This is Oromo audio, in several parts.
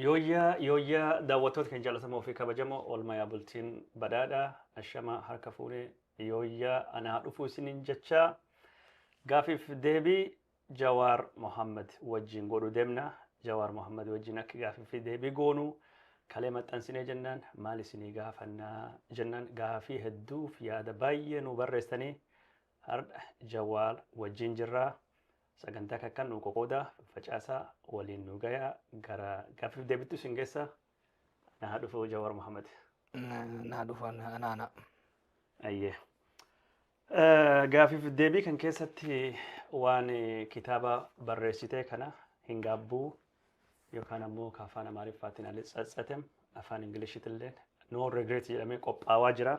Yooyyaa yooyyaa daawwattoota keenya jaalatamoo fi kabajamoo oolmaa yaa bultiin badhaadha ashama harka fuune yooyyaa anaa dhufuu isiniin jechaa gaafiif deebii Jawaar Mohammed wajjin godhu deemna Jawaar Mohammed wajjin akka gaafiif fi deebii goonu kalee maxxansinee jennaan maal isinii gaafannaa jennaan gaafii hedduuf yaada baay'ee nu barreessanii har'a Jawaar wajjin jirraa Sagantaa kakkan nuu qoqoodaa, faffacaasaa, waliin nuu gayaa, gara gaaffiif deebittu isin geessa. Anaa haa dhufu Jawaar Mohammed. Naa dhufan anaana. Ayyee. Eh, Gaaffiif deebii kan keessatti waan eh, kitaaba barreessitee kana hin gaabbuu yookaan ammoo ka afaan Amaariffaatiin Alice Tsatsetem afaan Ingilishitiilleen No Regret jedhamee qophaawaa jira.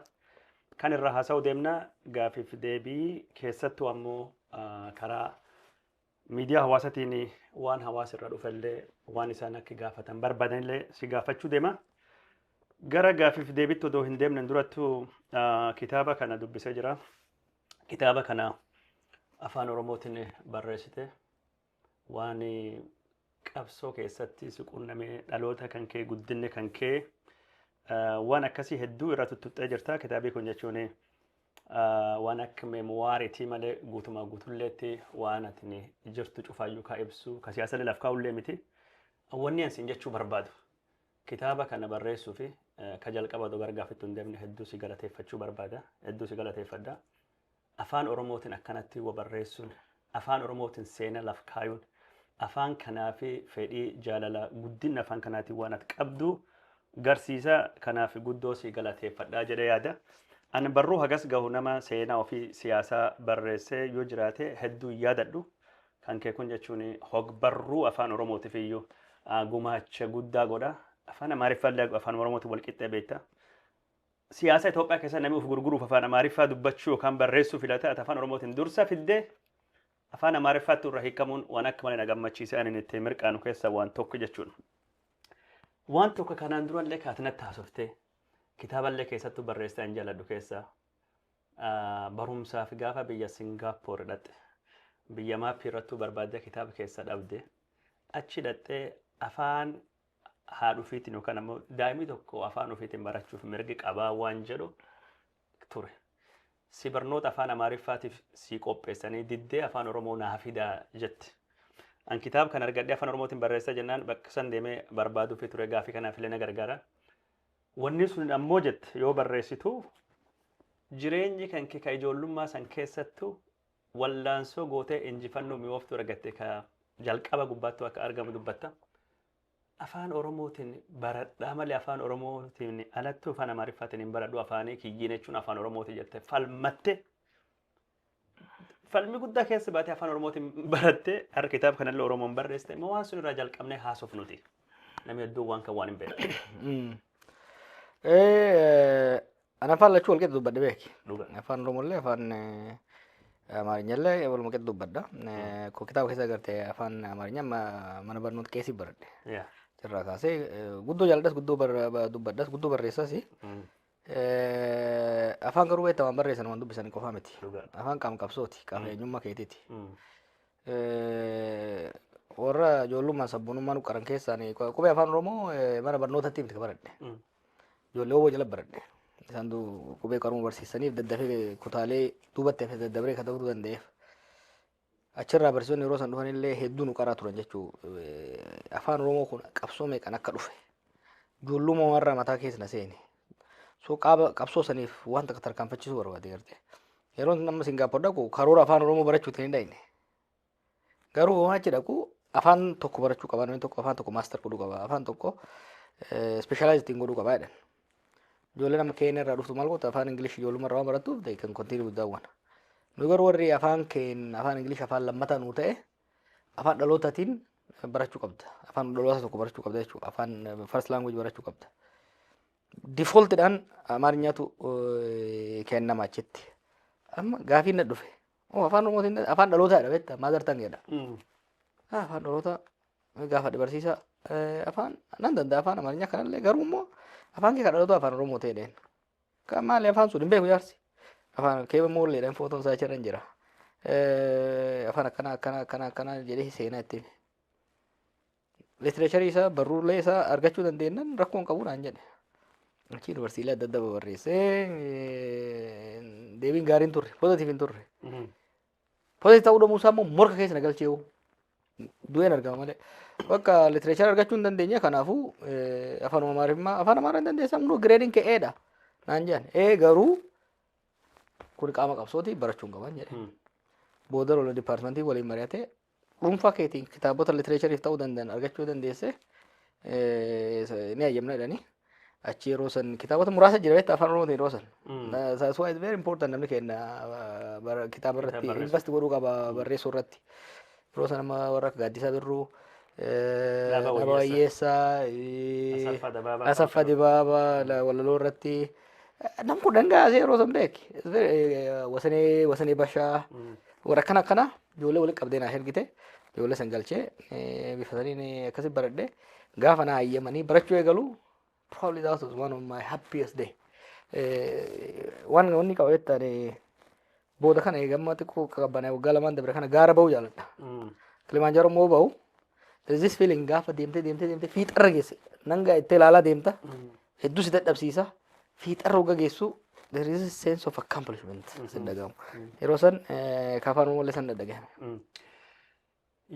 Kan irraa haasa'uu deemna gaafiif deebii keessattuu ammoo ah, karaa miidiyaa hawaasatiin waan hawaasa irra dhufellee waan isaan akka gaafatan barbaadanillee si gaafachuu deema. Gara gaafiif deebitti odoo hin deemnen durattuu ah, kitaaba kana dubbisee jira. Kitaaba kana afaan Oromootiin barreessite. Waan qabsoo keessatti si qunname dhaloota kan kee guddinne kan kee ah, waan akkasii hedduu irra tuttuqxee jirta kitaabii kun jechuun ah, waan akka meemuwaariitii malee guutumaa guutulleetti waan atini jirtu cufaayyuu kaa ibsu ka siyaasallee laf kaa'ullee miti wanni ansiin jechuu barbaadu kitaaba kana barreessuu fi eh, ka jalqaba odoo gargaafittu hin deemne hedduu si galateeffachuu barbaada hedduu si galateeffadha Afaan Oromootin akkanatti wa barreessun, Afaan Oromootin seena laf kaayun, Afaan kanaafi fedhii, jaalala, guddinna Afaan kanaatin waan ati qabdu garsiisa, kanaafi guddoo si galateeffadha jedhe yaada. An barruu hagas gahu nama seenaa ofii siyaasaa barreessee yoo jiraate hedduu hin yaadadhu. Kan kee kun jechuun hogbarruu Afaan Oromootif iyyuu gumaacha guddaa godha. Afaan Amaariffaallee Afaan Oromootin wal qixxee beekta. Siyaasa Itoophiyaa keessatti namni of gurguruuf afaan Amaariffaa dubbachuu yookaan barreessuu filata, ati afaan Oromootiin dursa fidde, afaan Amaariffaatti irraa hiikamuun waan akka malee na gammachiise ani inni ittiin mirqaanu keessaa waan tokko jechuun. Waan tokko kanaan durallee kan ati natti haasoftee, kitaaballee keessattuu barreessitee an jaalladhu keessaa ah, barumsaaf gaafa biyya Singaapoor dhaqxe, biyya maappii irrattuu barbaaddee kitaaba keessa dhabde, achi dhaqxee afaan haadha ofiitiin yookaan ammoo daa'imni tokko afaan ofiitiin barachuuf mirgi qabaa waan jedhu ture. Si barnoota afaan Amaariffaatiif si qopheessanii diddee afaan Oromoo naa fidaa jetti. An kitaaba kan argadhee afaan Oromootiin barreessaa jennaan bakka san deemee barbaaduufi ture gaafii kanaaf illee na gargaara. Wanni sun ammoo jette yoo barreessitu jireenyi kan kee ka ijoollummaa san keessattu Wallaansoo gootee injifannoo mi'ooftuu argatte ka jalqaba gubbaattuu akka argamu dubbatta. Afaan Oromootiin baradhaa malee Afaan Oromootiin alattuu Afaan Amaariffaatiin hin baradhu afaanii kiyyiin jechuun Afaan Oromooti jette falmatte. Falmi guddaa keessa baatee Afaan Oromootiin barattee har'a kitaaba kanallee Oromoon barreessite immoo waan sun irraa jalqabnee haasofnuti. Namni hedduun waan kan waan hin beekne. Eh, ana afaan lachuu walqixa dubbadhe beeki. Dhuga. Afaan Oromollee afaan eh, Amaarinyallee waluma qixa dubbadha. Eh, Koo kitaaba keessa agartee afaan Amaarinya ma- mana barnoota keessi baradhe. Yeah. Irraa kaasee eh, guddoo jaaladhas guddoo bar- ba- dubbadhas guddoo barreessas. Mm. Eh, Afaan garuu beektaa waan barreessan waan dubbisan qofaa miti. Dhuga. Afaan qaama qabsooti qaama eenyummaa keetiiti. Mm. warra ijoollummaan sabboonummaa nu qaran keessaan qubee afaan oromoo mana barnootatti miti baradhe ijoollee oboo jala baradhe isaan qubee qaruma barsiisaniif daddafee kutaalee duubatti hafe daddabree kan ta'uu danda'eef achirraa barsiisonni yeroo san dhufan illee hedduu nu qaraa turan jechuu afaan oromoo kun qabsoo meeqan akka dhufe ijoollummaa warra mataa keessa na seene So qaaba qabsoo saniif waan takka tarkaanfachisuu barbaade garte. Yeroo nama Singaappor dhaqu karoora afaan Oromoo barachuutiin hin dhaqne. Garuu homaa achi dhaqu afaan tokko barachuu qaba namni tokko afaan tokko maaster godhuu qaba afaan tokko ispeeshaalaayiz ittiin godhuu qaba jedhan. Ijoollee nama keenya irraa dhuftu maal gootu afaan Ingilish ijoollummaa irraa waan barattuuf they can continue with that one. Nu garuu warri afaan keenya afaan Ingilish afaan lammataa nuu ta'e afaan dhalootaatiin barachuu qabda. Afaan dhaloota tokko barachuu qabda jechuudha. Afaan first language barachuu qabda. Defaultidhaan Amaariffaatu eh, kennama achitti. Amma gaafiin na dhufe. Oo, Afaan Oromootiin afaan dhalootaadha beektaa maazar tangeedha. Ah, afaan dhaloota gaafa dabarsiisa eh, afaan nan danda'a afaan amaarinyaa kanallee garuu immoo afaan kee kan dhaloota afaan oromoo ta'e dheen Kan maali afaan sun hin beeku jaarsi. Afaan keeba moolleedhaan footoon isaa achirra hin jira. Eh, Afaan akkana akkana akkana akkana jedhee seenaa itti hime. Litireecharii isaa barruulee isaa argachuu dandeenyaan rakkoo hin qabu naan jedhe. Achi yuunivarsiitii adda addaa babarreessee eh, deebiin gaariin turre poozatiif hin turre. Polis ta'uu dhabuu isaa immoo morka keessa na galchee hoo. Du'een argama malee. Bakka litireechara argachuu hin dandeenye kanaafuu eh, afaanuma amaarifmaa afaan amaaraa hin dandeessan hunduu gireediin kee eedha. Naan jedhan ee garuu kun qaama qabsooti barachuun qaban jedhe. Booda lola dipaartimentii waliin mari'atee dhuunfaa keetiin kitaabota litireechariif ta'uu danda'an argachuu dandeesse ni hayyamna jedhanii achi yeroo san kitaabota muraasa jira beektaa afaan oromootiin yeroo san. That's why it's very important namni keenya kitaaba irratti invest godhuu qaba barreessuu irratti. Yeroo san amma warra akka gaaddisaa birruu. Dhaaba Wayyeessaa, Asaffaa Dibaabaa, Walaloo irratti nam kudhan gaasee yeroo san beeki. Wasanee Bashaa warra akkana akkanaa. Ijoollee walitti qabdee naa ergite ijoollee san galchee bifa saniin akkasi baradhe gaafa naa hayyamanii barachuu eegalu probably that was one of my happiest day. Waan wanni qaba jettaan booda kana eegamma xiqqoo qaqqabbanee waggaa lamaan dabre kana gaara ba'uu jaaladha. Kilimaanjaaroo immoo ba'u there is this feeling gaafa deemtee deemtee deemtee fiixarra geesse nangaa itti ilaalaa deemta hedduu si dadhabsiisa fiixarra hogga geessu there is a sense of accomplishment sin dhagahamu yeroo san eh, ka afaan oromoo illee san dhadhagahame Mm.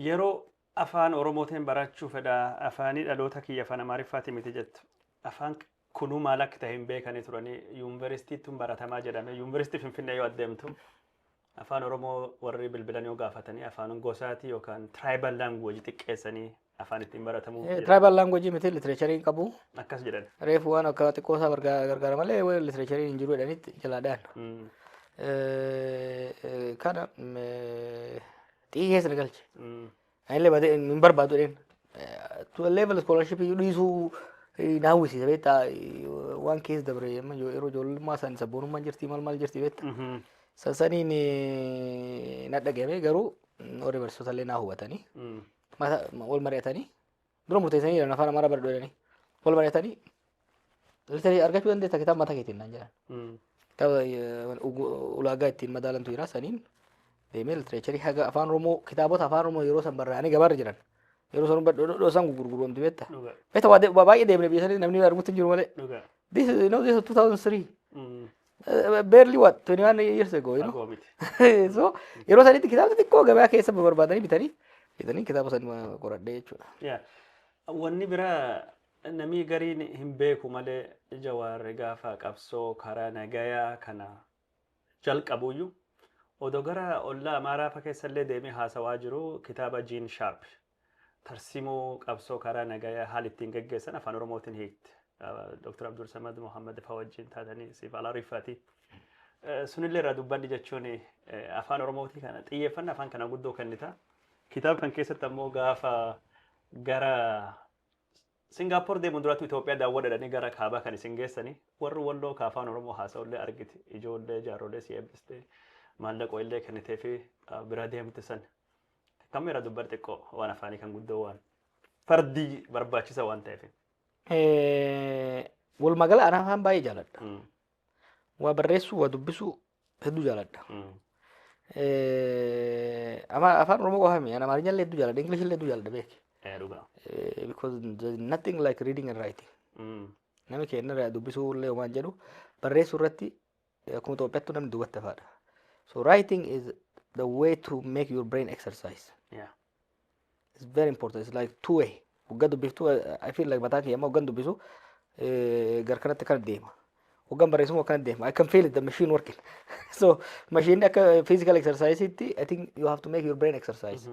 Yeroo afaan Oromootiin barachuu fedha afaanii dhaloota kiyya afaan Amaariffaati miti jettu. Afaan kunuu maal akka ta'e hin beekanii turanii yuunivarsiitiitti baratamaa jedhame. Yuunivarsiitii Finfinnee yoo adeemtu Afaan Oromoo warri bilbilan yoo gaafatanii afaan gosaati yookaan tribal language xiqqeessanii afaan ittiin baratamu jedhan. Tribal language miti literature hin qabu. Akkas jedhan. Reefu waan akka xiqqoo isaa bargaa- gargaara malee waan literature hin jiru jedhanitti jalaadhaan. Mm, Eh, eh, Kana mm, eh, xiyyee keessa na galche. mm, Anillee badee hin barbaadu jedheen. To a level scholarship iyyuu dhiisuu eh, na hawwisiisa beektaa eh, waan keessa dabre amma yoo- yeroo ijoollummaa san sabboonummaan jirti maal maal jirti beektaa. Mhm. San saniin eh, na dhagahame garuu mm, warri barsiisota illee na hubatanii Mm. mata wal mari'atanii dura murteessanii jiran afaan amaaraa baradhu jedhanii wal mari'atanii litarii argachuu dandeessa kitaaba mataa keetiin naan jedhan kitaaba eh, ugu- ulaagaa ittiin madaalantu jira saniin deemee litireecharii haga afaan oromoo kitaabota afaan oromoo yeroo san barraa'anii gabaarra jiran yeroo san badhodhodhoo san gurgurguromti beekta dhuga beekta waa de- waa baay'ee deemne biyya sanii namni arguutti hin jiru malee dhuga this is, you know, this is 2003 Eh, barely what 21 years ago you know Fagoo miti. so yeroo sanitti kitaabni xiqqoo gabaa keessa barbaadanii bitanii bitanii kitaaba san qoradhee jechuudha Yeah. Wanni biraa namni gariin hin beeku malee jawaarri gaafa qabsoo karaa nagayaa kana jalqabuyyuu odoo gara ollaa amaaraa fa keessallee deemee haasawaa jiru kitaaba Jiin Shaarp Tarsimoo qabsoo karaa nagayaa haala ittiin geggeessan afaan Oromootiin hiikte. Dr. Abdulsamad Mohammed faa wajjin taatanii siif alaa riffati. Sunillee irraa dubbadhi jechuun afaan Oromootii kana xiyyeeffanna afaan kana guddoo kennita. Kitaaba kan keessatti ammoo gaafa gara Singaapoor deemuun duraatu Itoophiyaa daawwadhadhanii gara kaabaa kan isin geessanii warri walloo ka afaan Oromoo haasa'ullee argite ijoollee jaarrolee si eebbiste maallaqoo illee kennitee fi bira deemte san Kammi irra dubbar xiqqoo waan afaanii kan guddoo waan fardii barbaachisa waan ta'eef. Walumaa gala anaa afaan baay'ee jaaladha. Mm. Waa barreessuu, waa dubbisuu hedduu jaaladha. Mm. Eh, ama- Afaan Oromoo qofa miti. Ani Amaarinya illee hedduu jaaladha. English illee hedduu jaaladha beeki. Eh, Dhugaa. Eh, Because there is nothing like reading and writing. Mm. Nami keenya irraa dubbisuu illee waan jedhu barreessuu irratti akkuma Itoophiyaattuu namni duubatti hafaadha. So writing is the way to make your brain exercise. Yeah. It's very important. It's like two way. Waggaa dubbiftuu I feel like mataa kiyya amma waggaan dubbisu eh, gar kanatti kana deema. Waggaan barreessumu akkana deema. I can feel it the machine working. so machine akka physical exercise itti I think you have to make your brain exercise.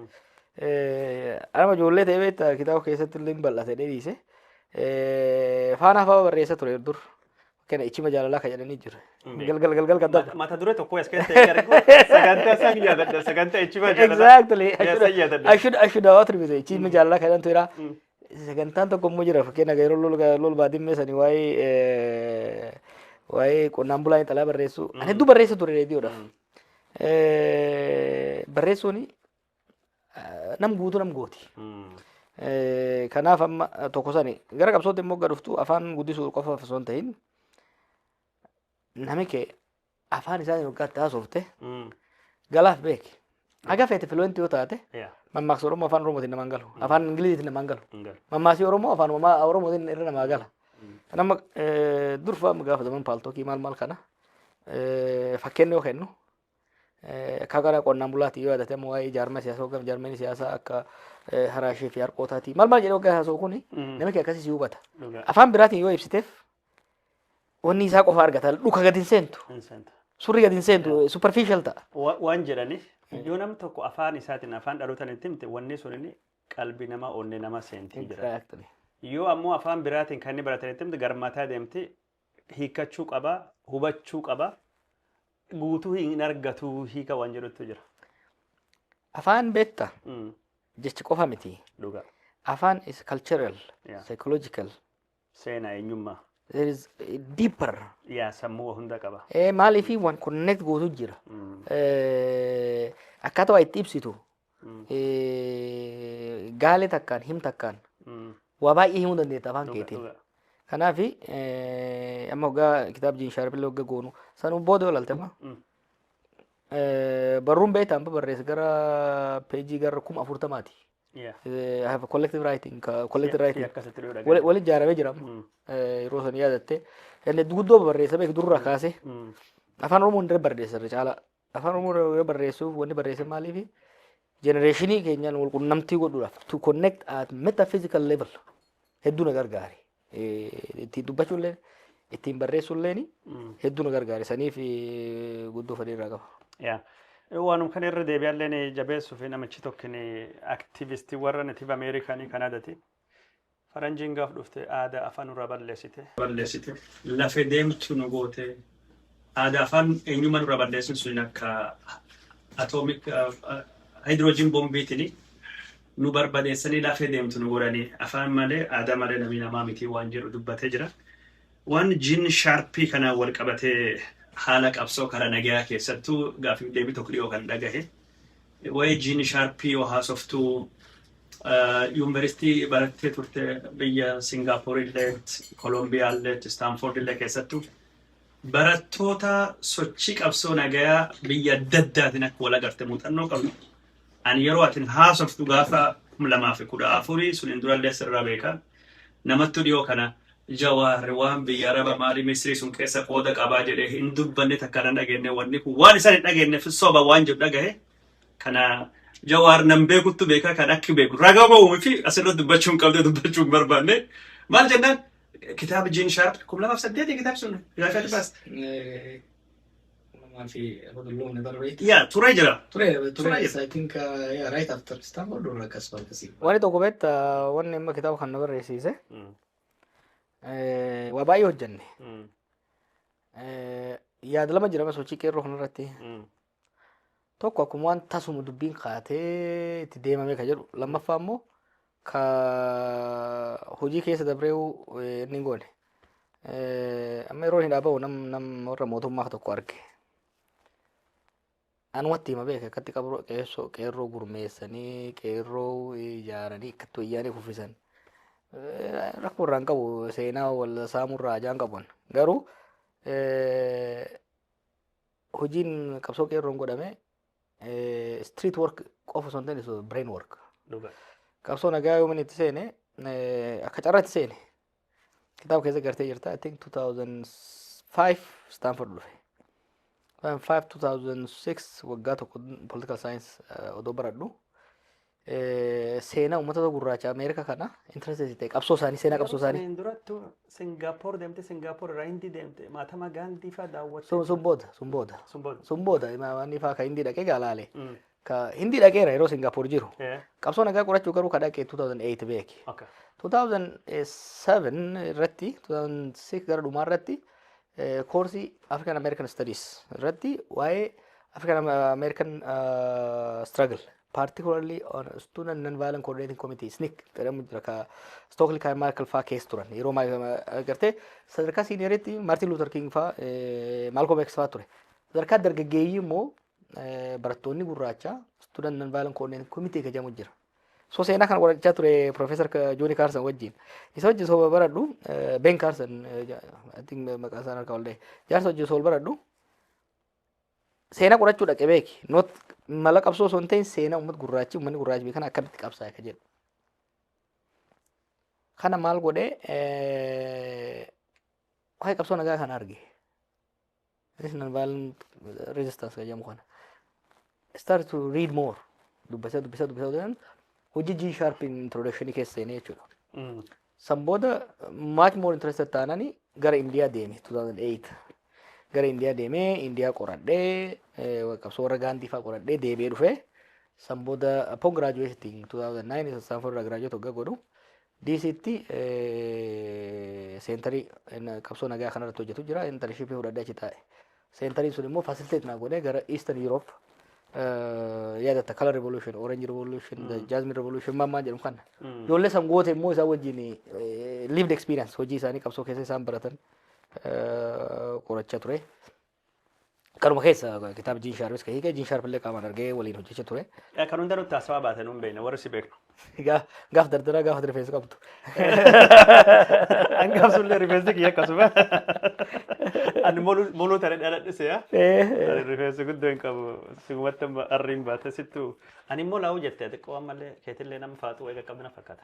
Eh, Anama ijoollee ta'ee beektaa kitaaba keessatti illee hin bal'ate dheeriise. Eh, Faanaa fa'aa barreessa ture dur. Kana ichima jaalalaa ka jedhanii jira. Beek. Galgal galgal kan dabra. Mata duree tokko as keessa hin argu. Sagantaa san yaadadha. Sagantaa ichima jaalalaa. Exactly. Yaa san yaadadha. Ashuud ashuud hawaa turbise. Ichima jaalalaa kan jedhantu jira. Mm. Sagantaan tokko immoo jira. Fakkeenya yeroo lol lol baadimmee sanii waa'ee eh, waa'ee qonnaan bulaa intalaa barreessu. Ani hedduu barreessa ture reediyoodhaaf. Eh, Barreessuun nam guutuu nam gooti. Eh, Kanaaf amma eh, tokko sani gara qabsootti immoo gad dhuftu afaan guddisuu qofaaf osoo hin ta'in nami kee afaan isaatiin waggaatti haasofte galaaf beeki. Haga feete filuwentii yoo taate mammaaksa Oromoo afaan Oromootiin namaan galu afaan Ingiliziitiin namaan galu mammaasii Oromoo afaan Oromaa- Oromootiin irra namaa gala. Kan amma eh, durfa amma gaafataman paaltookii maal maal kana eh, fakkeenya yoo kennu Akka gara qonnaan bulaatti yoo yaadate ammoo waa'ee jaarmaa siyaasaa hogganf jaarmeen siyaasaa akka haraashee fi harqootaati. Maal maal jedhee hoggaa haasa'u kun namichi akkasii si hubata. Afaan biraatiin yoo ibsiteef wanni isaa qofa argata. Dhuka gadi hin seentu. Surri gadi hin seentu. Superficial ta'a. Waan jedhaniif yoo nam tokko afaan isaatiin afaan dhalootaan itti himte wanni sun inni qalbii namaa onnee namaa seentii jira. Yoo ammoo afaan biraatiin kan inni baratan itti himte garmataa deemti hiikkachuu qaba, hubachuu qaba. Guutuu hin argatu hiika waan jedhutu jira. Afaan beekta Mm, jechi qofa miti. Dhugaa. Afaan is cultural, Yeah. psychological. Seenaa eenyummaa. There is a deeper. Yaa sammuu hunda qaba. Eh, Maaliif waan connect gootu jira. Mm, Eh, Akkaataa waa itti ibsitu eh, gaalee takkaan him takkaan waa baay'ee himuu dandeetta afaan keetiin. Kanaaf eh, amma hoggaa kitaab jiin shaarbillee hogga goonu sanuu booda olalte amma eh, barruun beektaa amma barreessa gara peejii gara kuma afurtamaati. Eh, I have a collective writing, ka- collective writing. akkasitti dhuu Wali- Waliin ijaaramee jira amma. Eh, yeroo san yaadatte. Inni guddoo barreessa beeku durraa kaasee. afaan oromoo hundee barreessa irra caalaa Afaan Oromoo irra yoo barreessuuf wanni barreessan maaliifi? Jenereeshinii keenyaan wal qunnamtii godhuudhaaf to connect at metaphysical level hedduu na gargaare. Eh, Ittiin dubbachuu illee ittiin barreessuu illee hedduu na gargaare. Saniif eh, guddoo fedhii irraa qaba. Yaa. Waanum kana irra deebi'alleen jabeessuuf namichi tokkin aktivistii warra Native Ameerikaanii Kanaadati. Faranjiin gaf dhufte aada afa nura ballesite. ballesite lafe demtu nu gote aada afan enyuma nura ballesin sunin akka atomic hydrogen bombi tini nu barbadesani lafe demtu nu godhani afan male aada male nami nama miti wan jedhu dubbate jira wan jin sharpi kanan wal qabate hala qabso kara nagaya kessattu gafif debi tokko dhiyo kan dhagahe Waa'ee Jiin Shaarpii yoo haasoftu yuunivarsiitii barattee turte biyya Singaapoor illee, Kolombiyaa illee, Istaanfoord illee keessattu barattoota sochii qabsoo nagayaa biyya adda addaatiin akka wal agarte muuxannoo qabdu. Ani yeroo atin haasoftu gaafa kum lamaa fi kudha afurii suniin durallee sirraa beeka. Namattu dhiyoo kana Jawaar waan biyya araba mali misri sun kessa qooda qaba jedhe hin dubbanne takka nan dhagenne wanni kun waan isan hin dhagennef soba waan jedhu dhagahe kana jawaar nan beekuttu beeka kan akki beeku raga ba'u miti asirra dubbachuu hin qabde dubbachuu hin barbaanne maal jennaan kitaaba jiin shaarp kum lamaaf saddeeti kitaab sun gaafatti baas Nama fi Abdullah ni barbaade. yaa turee jira Ture, Ture. ture. Yes, I think uh, yeah, right after Stanford or Kasparkasi. Wanni tokko beekta wanni amma kitaaba kana barreessiise Eh, Waa baay'ee hojjenne. Mm. Eh, Yaada lama jira sochii qeerroo kanarratti. Mm. Tokko akkuma waan tasuma dubbiin kaatee itti deemamee kan jedhu. Lammaffaa immoo ka hojii keessa dabree eh, inni hin goone. Eh, Amma yeroo hin dhaaba'u nam nam warra mootummaa tokko arge. Anumatti hima beeke akkatti qabroo qeessoo qeerroo gurmeessanii qeerroo ijaaranii akkatti wayyaanee kuffisan rakkoo irraa hin qabu seenaa wal saamuu irraa ajaan qabuun garuu hojiin qabsoo qeerroon godhame street work qofa osoo hin ta'in brain work qabsoo nagaa yoomin itti seene akka carratti seene kitaaba keessa gartee jirta I think 2005 Stanford dhufe 2005 2006 waggaa tokko political science eh, odoo baradhu eh, seenaa uummata gurraacha Ameerika kana interested ta'e qabsoo isaanii seenaa qabsoo isaanii Saniin durattu Singaapoor deemte Singaapoor irraa Hindii deemte maatama Gaandii fa'aa daawwatte. sun sun booda sun booda Sun booda. sun booda imaamanii fa'aa kan hindii dhaqee gaalaale Mm. Ka Hindii dhaqeera yeroo Singaapoor jiru. Eh, Qabsoo nagaa qorachuu garuu ka dhaqe 2008 beeki. okay. 2007 irratti 2006 gara dhumaa irratti eh, koorsii African American Studies irratti waa'ee African American uh, struggle particularly on student non-violent coordinating committee SNCC jedhamu jira ka Stokely kan Michael faa keessa turan yeroo ma- ma- agartee sadarkaa siiniyeeritti Martin Luther King faa eh, Malcolm X faa ture sadarkaa dargaggeeyyii immoo barattoonni gurraacha student non violent coordinating committee kan jedhamu jira. So seenaa kana qorachaa ture Professor Jooni Kaarsan wajjin. Isa wajjin soo baradhu Ben Kaarsan I think maqaa isaan harkaa ollee jaarsa wajjin soo baradhu seenaa qorachuu dhaqe beeki. Not mala qabsoo osoo hin ta'in seenaa uummata gurraachi uummanni gurraachi beekan akkamitti qabsaa'e kan jedhu. Kana maal godhee waa'ee qabsoo nagaa kana arge. National Violent Resistance kan jedhamu kana. Start to read more. Dubbisa dubbisa dubbisa dubbisa. Hojii G sharp introduction keessa seenee jechuudha. Mm. San booda much more interested taanani gara Indiyaa deeme 2008. Gara Indiyaa deemee Indiyaa qoradhee eh, qabsoo warra Gaandii fa'aa qoradhee deebi'ee dhufee san booda upon graduating 2009 Stanford irraa graduate hoggaa godhu Diisiitti seentarii qabsoo nagaa kanarratti hojjetu jira. Intarnshiippii fudhadhee achi taa'e. Seentariin sun immoo fasiliteet naa godhee gara Eastern Europe yaadatta Color Revolution, Orange Revolution, Jasmine Revolution maal maal jedhamu kana. Ijoollee san goote immoo isaan wajjin lived experience hojii isaanii qabsoo keessa isaan baratan qorachaa ture. Kanuma keessa kitaaba Jiin Shaarpis ka hiike, Jiin Shaarpillee qaamaan argee waliin hojjecha ture. Kan hunda nutti haasawaa baate nuun beekna warri si beeknu. Gaa- Gaaf dardaraa gaaf rifeensa qabdu. Hangaaf sullee rifeensi kiyya akkasuma. Ani moluu moluu tare dhaladhise yaa. Ani rifeensi guddoo hin qabu. Sigumatti amma arriin baate sittu. Ani immoo laa'uu jette xiqqoo ammallee keetillee nama faaxuu eega qabdina fakkaata.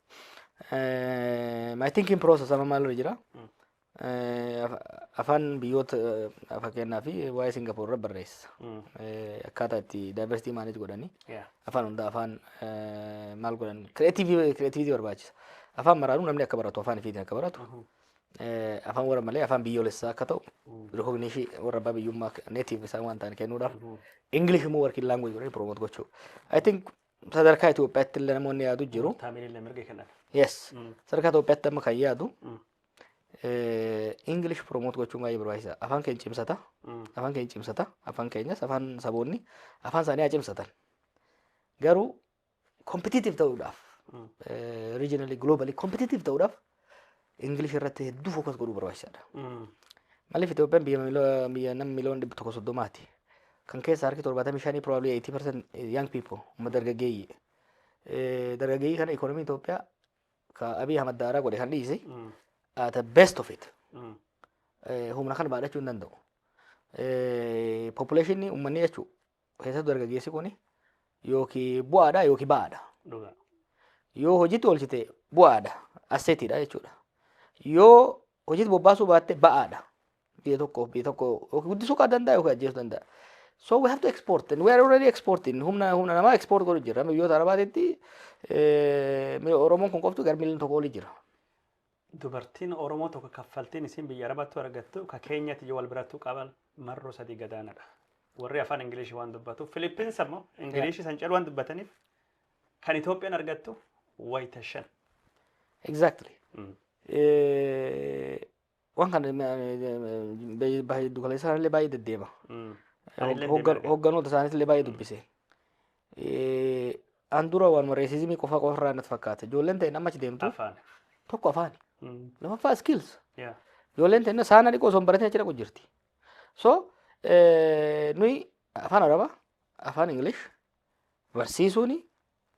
My thinking process amma maalirra jira? Eh, af- Afaan biyyoota eh, fakkeenyaa fi waa'ee Singapoor irra barreessa. Eh, Akkaataa itti diversity manage godhanii Yeah. afaan hundaa afaan eh, maal godhan creativity barbaachisa. Afaan maraanuu namni akka baratu afaan ifiitiin akka baratu eh, afaan warra malee afaan biyyoolessaa akka ta'u recognition warra abbaa biyyummaa native isaan waan ta'an kennuudhaaf English immoo working language godhanii promote gochuu. I think Sadarkaa Itoophiyaatti illee namoonni yaadu jiru. Taamirillee mirga kennan. Yes. Mm. Sadarkaa Itoophiyaatti amma kan yaadu Mm. English promote gochuun baay'ee barbaachisa. Afaan keenya cimsata. Mm. Afaan keenya cimsata. Afaan keenyas afaan saboonni afaan isaanii haa cimsatan. Garuu competitive ta'uudhaaf Mm. regionally globally competitive ta'uudhaaf Ingilish irratti hedduu fookas godhuu barbaachisaadha. Maaliif Itoophiyaan biyya miloo- biyya nama miliyoona dhibba tokko soddomaati. Kan keessa harki torbaatamii shanii probably 80% young people umma dargaggeeyyii. Eh, Dargaggeeyyii kana ikoonomii Itoophiyaa ka Abiy Ahmad daaraa godhe kan dhiise at the best of it. Eh, Humna kana baadhachuu hin danda'u. Eh, Population ummanni jechuun Keessattuu dargaggeessi kun yookiin bu'aadha yookiin ba'aadha. Dhugaa. Yoo hojiitti oolchite bu'aadha. Asseetiidha jechuudha. Yoo hojiitti bobbaasuu baatte ba'aadha. Biyya tokkoof biyya tokko yookiin guddisuu kan danda'a yookiin ajjeesuu danda'a. So we have to export and we are already exporting. Humna humna namaa export godhu jirra. Biyyoota Arabaatitti eh, Oromoon kun qoftu gara miliyoona tokko oli jira. Dubartiin oromoo tokko kaffaltiin isiin biyya arabattu argattu ka keenyatiyyu wal birattu qaban marroo sadii gadaanadha. Warri afaan ingiliishi waan dubbatuuf Filippins ammoo ingiliishi san calu waan dubbataniif kan Itoophiyaan argattu wayita shan. Exactly. Mm. Eh, Waan kana baay'ee dukkaleessaa illee baay'ee deddeema. Mm. Anillee Hoggan- deemaa Hogganoota isaaniitti illee baay'ee dubbise. An dura waanuma reesizimii qofa qofa irraa natti fakkaata. Ijoolleen ta'in amma achi deemtu Afaan. tokko afaani. Mm. Lammaffaa skills. Yeah. Ijoolleen ta'in saana dhiqoo osoo hin baratin achi dhaqu jirti. So eh, nuyi afaan arabaa afaan English barsiisuuni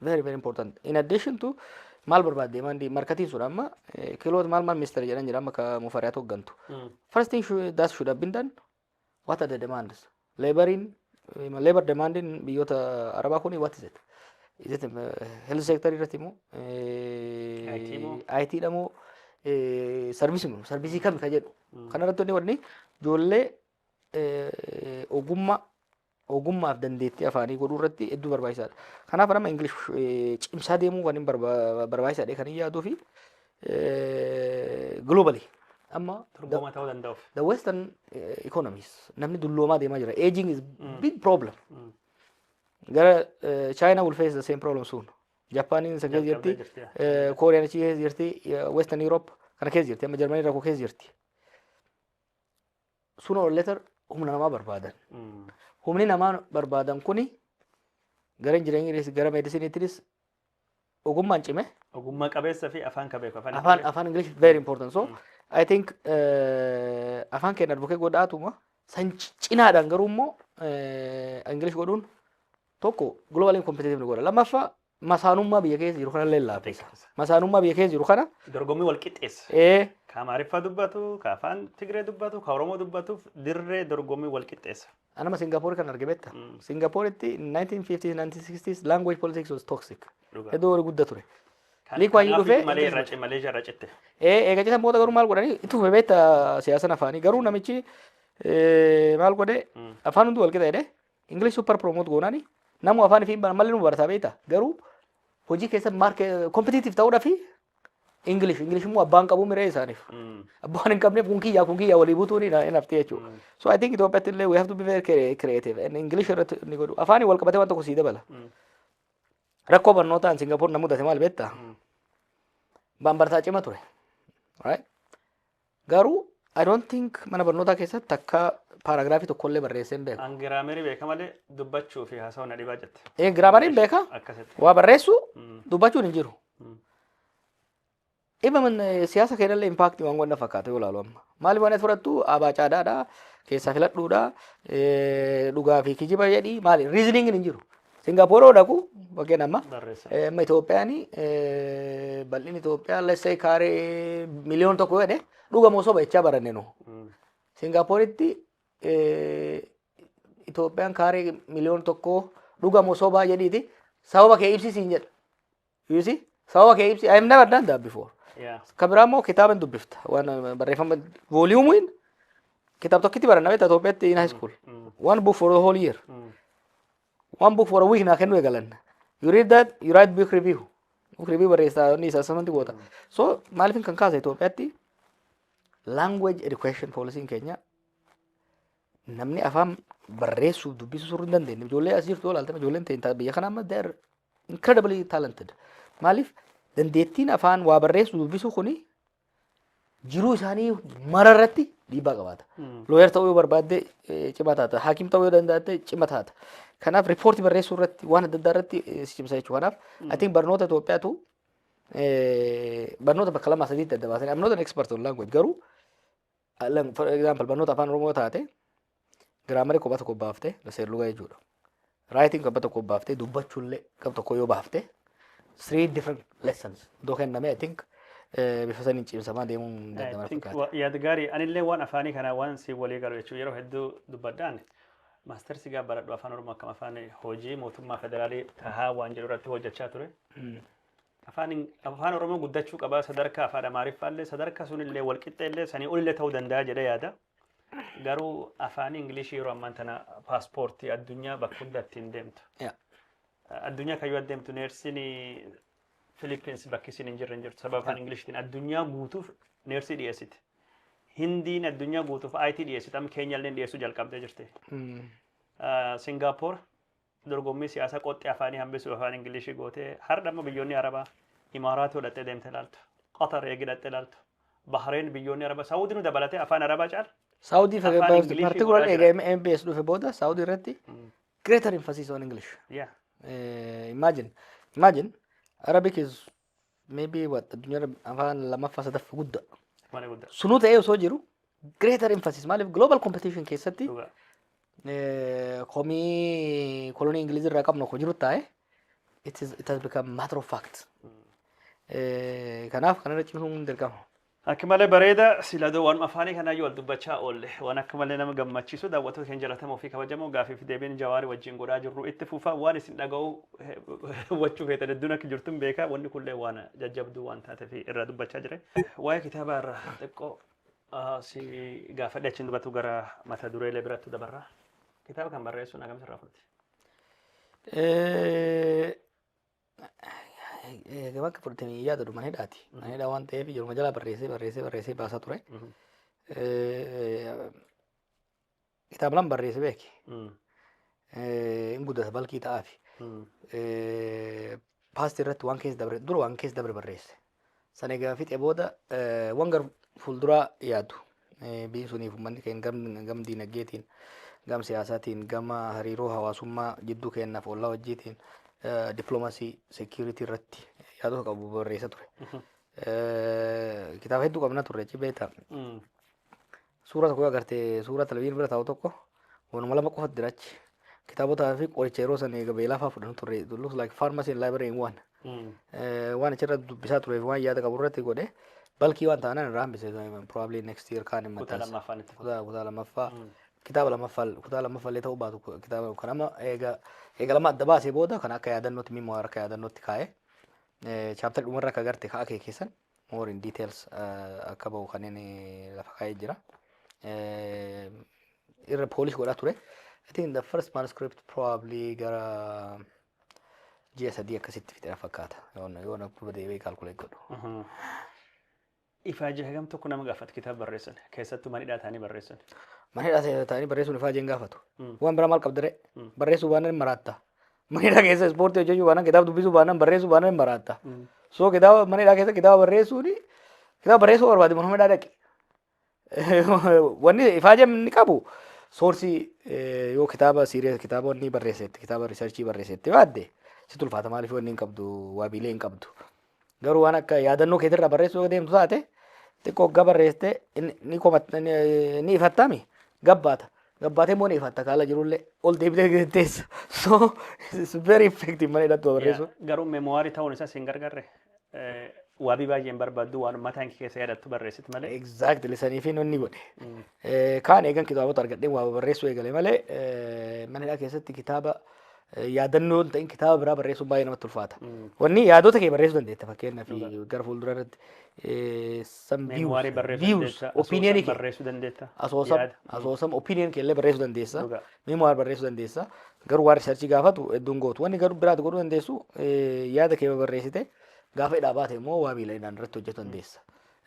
very very important. In addition to maal barbaadde maandii markatiin sun amma eh, kiloot maal maal ministeera jedhan jira amma ka mufariyaatu hoggantu. Mm. First thing should, that should have been done What are the demands? Laboriin, labor demandiin biyyoota Arabaa kuni what is it? Is it uh, health sector irratti moo? IT moo? IT dha moo? Sarvisii moo? Sarvisii kami ka jedhu. Kana irratti wanni wanni ijoollee eh, ogummaa ogummaaf dandeettii afaanii godhuu irratti hedduu barbaachisaadha. Kanaaf nama Ingilish cimsaa deemuu kan hin barbaachisaadha kan hin yaaduu fi globally amma Dorgomaa ta'uu danda'uuf. the western eh, economies namni dulloomaa deemaa jira aging is big problem gara eh, china will face the same problem soon japaaniin isa keessa Jalqabdee jirti jirti, eh, kooriyaan achi keessa jirti eh, western europe kana keessa jirti amma jarmanii rakkoo keessa jirti Sooner or later humna namaa barbaadan. Humni namaa barbaadan kuni gara injinariingiinis gara meedisiniitiinis ogummaan cime. Ogummaa qabeessa fi afaan ka beeku. Afaan Afaan afaan English very important. So I think eh, afaan keenya advocate godhaatuma san ci- cinaadhaan garuu immoo eh, English godhuun tokko global competitive ni godha. Lammaffaa masaanummaa biyya keessa jiru kanallee laaffisa. Laaffisa. Masaanummaa biyya keessa jiru kana Dorgommii wal qixxeessa. ee, Ka Amaariffaa dubbatu, ka afaan Tigree dubbatu, ka Oromoo dubbatuuf dirree dorgommii wal qixxeessa. anama Singapore kan arge beekta. Mm. Singaporetti 1950s 1960s language politics was toxic. Dhugaa. Hedduu wal gudda ture. Kan- Lee Kuan Yew kanaaf dhufee malee irraa ci- Maleeshiyaa irraa citte. Ee, eega citan booda garuu maal godhanii itti fufe beekta siyaasan afaanii garuu namichi ee, maal godhe Mm. afaan hundi wal qixa jedhe English super promote goonani namu afaan fi malee nu barata beeta garuu hojii keessa market competitive ta'uudha fi English English immoo abbaan qabu miree isaaniif abbaan hin qabneef kun kiyyaa kun kiyyaa walii butuun hin hin haftee jechuudha. So I think Itoophiyaatti illee we have to be very crea- creative and English irratti inni godhu afaanii wal qabatee waan tokko sii dabala. Rakkoo barnootaan Singapore na mudate maal beektaa? Baan bartaa cima ture. Right? Garuu I don't think mana barnootaa keessatti takka paaraagiraafii tokkollee barreessee hin beeku. An giraamerii beeka malee dubbachuu fi haasawuu na dhibaa jette. Ee giraamariin beeka Akkasitti. waa barreessuu Mm. dubbachuun hin jiru. Mm. Dhimma man- eh, siyaasa keenyallee impaaktii waan wanna fakkaata yoo ilaalu amma. Maali waan ati fudhattu abaa caadaadha keessaa filadhuudha eh, dhugaa fi kijiba jedhi maali riiziniingin hin jiru. Singapore yoo dhaqu bakkeen amma Barreessa. eh, amma Itoophiyaan eh, bal'inni Itoophiyaa let's say kaaree miliyoona tokko jedhe dhugamoo soba jechaa baranne nu. Mm. Singaaporitti eh, Itoophiyaan kaaree miliyoona tokko dhugamoo sobaa jedhiiti sababa kee ibsisiin jedha. You see? Sababa kee ibsi. I have never done that before. Yeah. Ka biraa immoo kitaaba hin dubbifta. Waan uh, barreeffama vooliyuumiin kitaaba tokkitti baranna beektaa Itoophiyaatti in high school. One book for the whole year. One book for a week naa kennuu eegalan. You read that, you write book review. Book review barreessaa inni isa samanti goota. So maaliifin kan kaasa Itoophiyaatti language education policy'n keenya namni afaan barreessuuf dubbisuu surri hin dandeenye. Ijoollee as jirtu yoo ilaaltan ijoolleen ta'in biyya kana amma they're incredibly talented. Maaliif dandeettiin afaan waa barreessu dubbisuu kuni jiruu isaanii mara irratti dhiibbaa qabaata. Looyer ta'uu yoo barbaadde eh, cima taata. Haakim ta'uu yoo danda'atte cima taata. Kanaaf riippoortii barreessuu irratti waan adda addaa irratti eh, si cimsa jechuudha. Kanaaf I think barnoota Itoophiyaatu eh, barnoota bakka lamaa sadiitti adda baasanii I'm not an expert on language garuu Alam for example barnoota afaan oromoo taate giraamarii kophaa tokko baafte seerluga jechuudha. Raayitiin kophaa tokko baafte dubbachuullee gab tokko yoo baafte three different lessons iddoo kenname I think eh, bifa saniin cimsamaa deemuun I danda'ama think fakkaata. wa- yaad gaarii anillee waan afaanii kanaa waan si walii galu jechuun yeroo hedduu dubbadhaan maastersi gaa baradhu afaan oromoo akkam afaan hojii mootummaa federaalii tahaa waan jedhu irratti hojjechaa ture. Afaan Ing Afaan Oromoo guddachuu qaba sadarkaa Afaan Amaariffaa illee sadarkaa sun illee wal qixxee illee sanii ol illee ta'uu danda'a jedhee yaada. Garuu Afaan Ingilishii yeroo ammaan tana paaspoortii addunyaa bakka hunda ittiin deemtu. Yeah. Addunyaa kan yoo adeemtu neersiin Filiippiins bakki isin hin jirre hin jirtu sababa Afaan Ingilishtiin addunyaa guutuuf neersii dhiyeessiti. Hindiin addunyaa guutuuf IT dhiyeessiti amma Keenyaa illee dhiyeessuu jalqabdee jirti. Mm. Singaapoor Dorgommii siyaasaa qoxxee afaanii hambisuuf afaan Ingiliishii gootee hardha immoo biyyoonni Arabaa Imaaraat yoo dhaxxee deemte ilaaltu, Qatar eegi dhaxxee ilaaltu, Bahreen biyyoonni Arabaa Saawudii nu dabalatee afaan Arabaa caala Saudi afaan fayyadamtu Ingiliishii particular godhaa eega jira. MBS dhufe booda Saudi irratti greater emphasis on English. Yeah. Eh, imagine imagine Arabic is maybe what addunyaarra afaan lammaffaa sadaffa guddaa Mana guddaa. sunuu ta'ee osoo jiru greater emphasis maaliif global competition keessatti Dhugaa. eh, komii kolonii ingilizii irraa qabnu kun jiru taa'e it is- it has become matter of fact Eh, kanaaf kanarra cimsuun dirqama Akk malee bareeda sila doo waanuma afaanii kanaa yoo wal dubbachaa oolle waan akka malee nama gammachiisu daawwattoota keenya jalatamoo fi kabajamoo gaafii fi deebiin jawaari wajjin godhaa jirru itti fufa waan isin dhaga'u hubachuu feetan hedduun akka jirtun beekaa wanni kunillee waan jajjabduu waan taate fi irraa dubbachaa jire. Waa'ee kitaabaa irraa xiqqoo ah, si gaafadhe achiin dubbatu gara mata dureelee biratti dabarra. Kitaaba kan barreessuun akkamitti irraa fudhate? Eh, Gama akka fudhatanii yaadatu mana hidhaati. Mana hidhaa waan ta'eef yeruma jalaa barreessee barreessee barreessee baasaa ture. Kitaaba lama barreessee beeke. Hin guddata balkii ta'aafi. Paastii irratti waan keessa dabre dura waan keessa dabre barreesse. San egaa fixe booda wan gar fuulduraa yaadu biyyi suniif uummanni keenya gam, gam diinagdeetiin gam siyaasaatiin gama hariiroo hawaasummaa jidduu keenyaaf ollaa wajjiitiin dippiloomasii seekiyuritii irratti yaadota qabu barreessa ture. Kitaaba hedduu qabna turre cibeeta. Suuraa tokko yoo agarte suuraa televizyiinii bira taa'u tokko waanuma lama qofatu jira achi. Kitaabotaa fi qoricha yeroo san eega beelaa fa'aa fudhannu turre. It looks like pharmacy and library in one. Eh, Waan achirra dubbisaa turee fi waan yaada qabu irratti godhe balkii waan ta'an irraa hambise probably next year kaan hin Kutaa maxxansa. lammaffaan itti fufa. Kutaa kutaa lammaffaa kitaaba lammaffaa kutaa lammaffaa illee ta'uu baatu ku- kitaaba kan amma eega eega lama adda baasee booda kan akka yaadannootti mimmoo akka yaadannootti kaa'e chaaptarri dhumarra akka agarte ka akeekisan more in details eh, akka ba'u kan inni lafa kaa'ee jira. Eh, Irra polish godhaa ture. I think the first manuscript probably gara ji'a sadii akkasitti fixeera fakkaata. Yoon yoon akkuma deebi'ee calculate godhu. Ifaajii hagam tokko nama gaafata kitaaba barreessan keessattuu manidhaa ta'anii barreessan. Mana hidhaa ta'anii barreessuun ifaa jeen gaafatu. Waan biraa maal qabdire? Barreessuu waan maraatta. Manidhaa keessa ispoortii hojjechuu baanaan kitaaba dubbisuu baanaan barreessuu baanaan hin baraatta. So kitaaba manidhaa keessa kitaaba barreessuun kitaaba barreessuu barbaade mana hidhaa dhaqi. Wanni ifaajam inni qabu soorsii eh, yoo kitaaba siiree kitaaba wanni barreessetti kitaaba riisarchii barreessetti baadde si tulfaata maaliif wanni hin qabdu waabiilee hin qabdu. Garuu waan akka yaadannoo keetirraa barreessuu deemtu taate xiqqoo oggaa barreessite ni komatta ni ifattaami gabbaata. Gabbaatee immoo ni ifatta kaala jirullee ol deebitee teessa. So it's very effective mana hidhattu barreessu. Garuu memoirii ta'uun isaas hin gargarre. Waabii baay'een barbaaddu waan mataan keessa yaadattu barreessit malee. Exactly saniifii nonni godhe. Kaan eegan kitaabota argadheen waa barreessuu eegale malee mana hidhaa keessatti kitaaba yaadannoo hin ta'in kitaaba biraa barreessuun baay'ee namatti ulfaata. Wanni yaadota kee barreessuu dandeetta fakkeenyaaf gara fuuldura irratti Meemuwaarii barreessuu dandeessa. opinion kee barreessuu dandeessa. asoosam yaada. asoosam opinion kee illee barreessuu dandeessa Dhugaa. memoir barreessuu dandeessa garuu waan riisarchii gaafatu hedduun gootu wanni garuu biraati godhuu dandeessu eh, yaada kee barreessite gaafa hidhaa baate immoo waa miila hidhaan irratti hojjetu dandeessa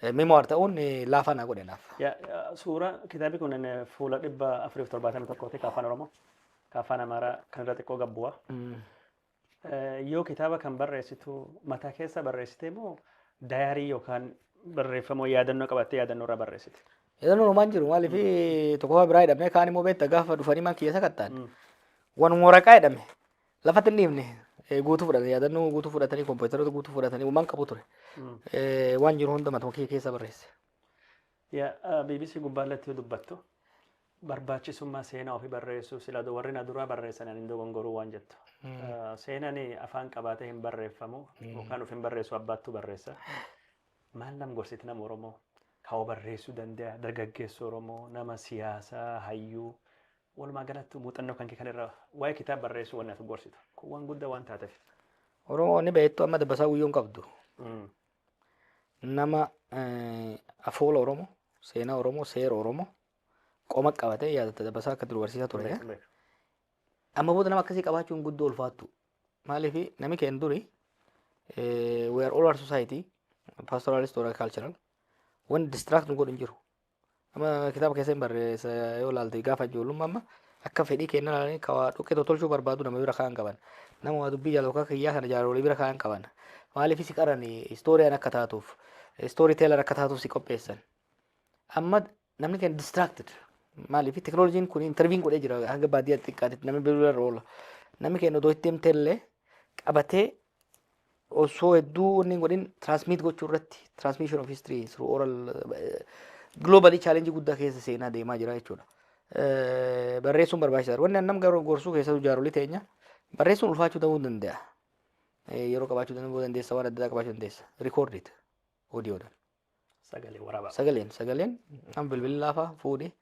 Eh, Memoir ta'uun eh, laafaa naa godhe naaf. Ya, ya, suura kitaabni kun inni fuula dhibba afurii fi torbaatamii tokkooti ka afaan oromoo ka afaan amaaraa kan irra xiqqoo gabbuwa Eh, yoo kitaaba kan barreessitu mataa keessa barreessite moo dayaarii yookaan barreeffama yaadannoo qabattee yaadannoo irraa barreessite Yaadannoo homaan jiru maaliif tokkoffaa biraa jedhamee kaan immoo beekta gaafa dhufanii man kiyya sakattaan. Wanuma waraqaa jedhame Lafatti hin dhiifne eh, guutuu fudhate yaadannoo guutuu fudhatanii kompiitaroota guutuu fudhatanii uumaan qabu ture. Eh, Waan jiru hunda matuma kiyya keessa barreesse. Ya, ah, BBC gubbaarratti yoo dubbattu barbaachisummaa seenaa ofii barreessuu sila du- warri na duraa barreessan ani hin dogongoruu waan jettu. Ah, Seenaan afaan qabaatee hin barreeffamu yookaan of hin barreessu abbaattu barreessa. Maal nam gorsiti nama Oromoo? Kaawwa barreessuu danda'a, dargaggeessa Oromoo, nama siyaasaa, hayyuu. Walumaa galattuu muuxannoo kan kee kan irraa waa'ee kitaaba barreessuu wanni ati gorsitu kun waan guddaa waan taateef. Oromoo ni beektu amma dabbasaa guyyuu hin qabdu. Mm. Nama eh, afoola Oromoo, seenaa Oromoo, seera Oromoo qoma qabatee yaadatta dabbasaa akka dur barsiisaa ture. Beeku, beeku. Amma booda nama akkasii qabaachuun guddoo ulfaattu. Maaliif nami keenya duri eh, we are all our society pastoralist or cultural wanti distract nu godhu hin jiru. Amma kitaaba keessa hin barreessa yoo ilaalte gaafa ijoollummaa amma akka fedhii keenya ilaalanii ka waa dhoqqee tokko tolchuu barbaadu nama bira kaan qaban. Nama waa dubbii jaalatu akka kiyyaa kana jaarolii bira kaan qaban. Maaliif si qaran istooriyaan akka taatuuf istoorii teelar akka taatuuf si qopheessan. Amma namni keenya distracted. Maaliif teknooloojiin kun interviin godhee jira hanga baadiyyaa xiqqaatitti namni bira irra oola. Namni keenya odoo itti himtee illee qabatee osoo hedduu wanni hin godhin transmit gochuu irratti transmission of history through oral globally challenge guddaa keessa seenaa deemaa jira jechuudha. Eh, Barreessuun barbaachisaadha. Wanni annam garuu gorsuu keessattuu jaarolii teenya barreessuun ulfaachuu ta'uu ni danda'a. Eh, Yeroo qabaachuu danda'uu dandeessa waan adda addaa qabaachuu dandeessa. Record it. Audio dhaan. Sagalee waraabaa. Sagaleen sagaleen kan bilbilaa fa'aa fuudhee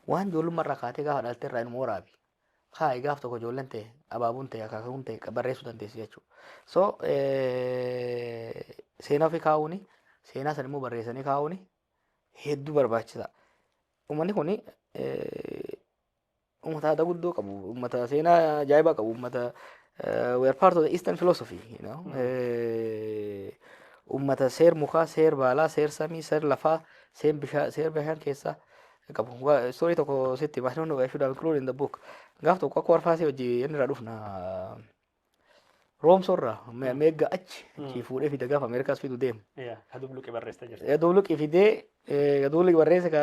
waan ijoollummaa irraa kaatee gaafa dhalte irraa inuma waraabi. Kaa'i gaaf tokko ijoolleen ta'e abaabuun ta'e akaakuun ta'e qa- barreessuu dandeessi jechuudha. So eh, seenaa ofii kaa'uuni seenaa sana immoo barreessanii kaa'uuni hedduu barbaachisaa. Uummanni kun Uummata aadaa guddoo qabu, uummata seenaa ajaa'ibaa qabu, uummata we are part of the Eastern philosophy, you know. Uummata seer mukaa, seer baalaa, seer samii, seer lafaa, seer bishaan, seer bishaan keessaa qabu. Story tokko sitti, I don't know, I should have included in the book. Gaaf tokko akka warfaasee hojii inni irraa dhufna. Roomsorraa me- meegga achi achii fuudhee fida gaafa Ameerikaas fidu deema. Yaa, ka dubluqi barreessita jirti. Gaduu luqi fidee eh, gaduu luqi barreesse ka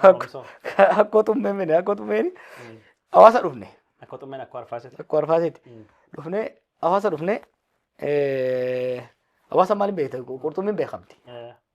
Roomsoo. ka- akkoo tummee mine akkoo tummeen hawaasa dhufne Akka xummeen akka arfaasiti. akkoo arfaaseeti dhufne hawaasa dhufne eh, hawaasa maaliin beekta qurxummiin beekamti.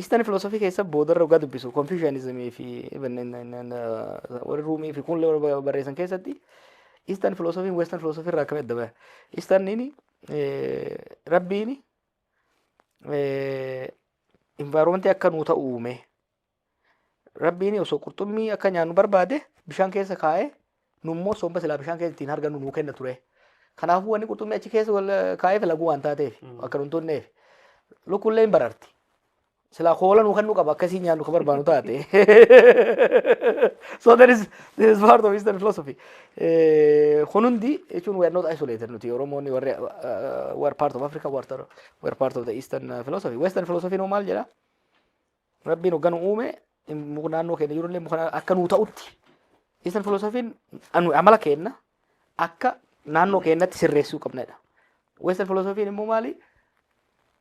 Eastern philosophy keessa boodarra dhugaa dubbisu Confucianism fi even in- in- in, uh, warri Ruumii fi kun illee warra barreessan keessatti Eastern philosophy Western philosophy irraa akkamitti adda baha? Easterniin eh, rabbiin eh, environment akka nuu ta'u uume Rabbiin osoo qurxummii akka nyaannu barbaade bishaan keessa kaa'ee nu immoo somba silaa bishaan keessa ittiin hargannu nuu kenna ture. Kanaafuu wanni qurxummii achi keessa wal kaa'eef laguu waan taateef akka nun tunneef lukkullee hin bararti. Silaa koola nuu kennuu qaba akkasii nyaannu kan barbaannu taate. So that is, this is part of Eastern philosophy. Eh, Kun hundi jechuun we are not isolated nuti Oromoonni warri uh, we are part of Africa, we are, we are part of the Eastern uh, philosophy. Western philosophy noo maal jedhaa? Rabbiin hogga nu uume muka naannoo keenya jirullee muka akka nuu ta'utti isan filoosofiin amala keenna akka naannoo keenyatti sirreessuu qabnedha. Weessan filoosofiin immoo maali?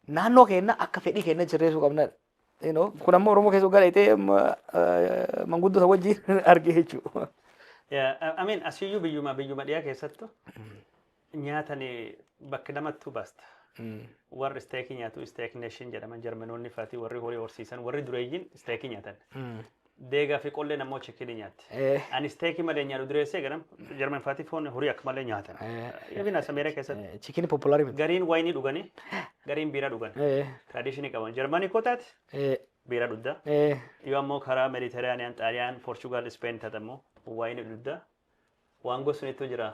Naannoo keenya akka fedhii keenya sirreessuu qabnedha. Kun ammoo Oromoo keessa gara itee manguddota wajjin argee jechuudha. Ameen asiyyuu biyyuma biyyuma dhiyaa keessattu nyaatani bakki lamattuu basta. Warri isteekii nyaatu isteek neeshin jedhaman jarmanoonni fati warri horii horsiisan warri dureeyyiin isteekii nyaatan. Deegaa fi qolleen ammoo chikinii nyaatti. Eh. Ani isteekii malee nyaadhu dureessee ganam jarman fati foon horii akka malee nyaatan. Even as Ameerikaa keessatti Chikin populaari miti. gariin wayinii dhuganii gariin biiraa dhugan. Eh. Tradishinii qaban jarmanii koo taate Eh. biiraa dhugda. Eh. Yoo ammoo karaa Mediteraaniyaan, Xaaliyaan, Poorchugaal, Ispeen taate ammoo wayinii dhugda. Waan gosnitu jira.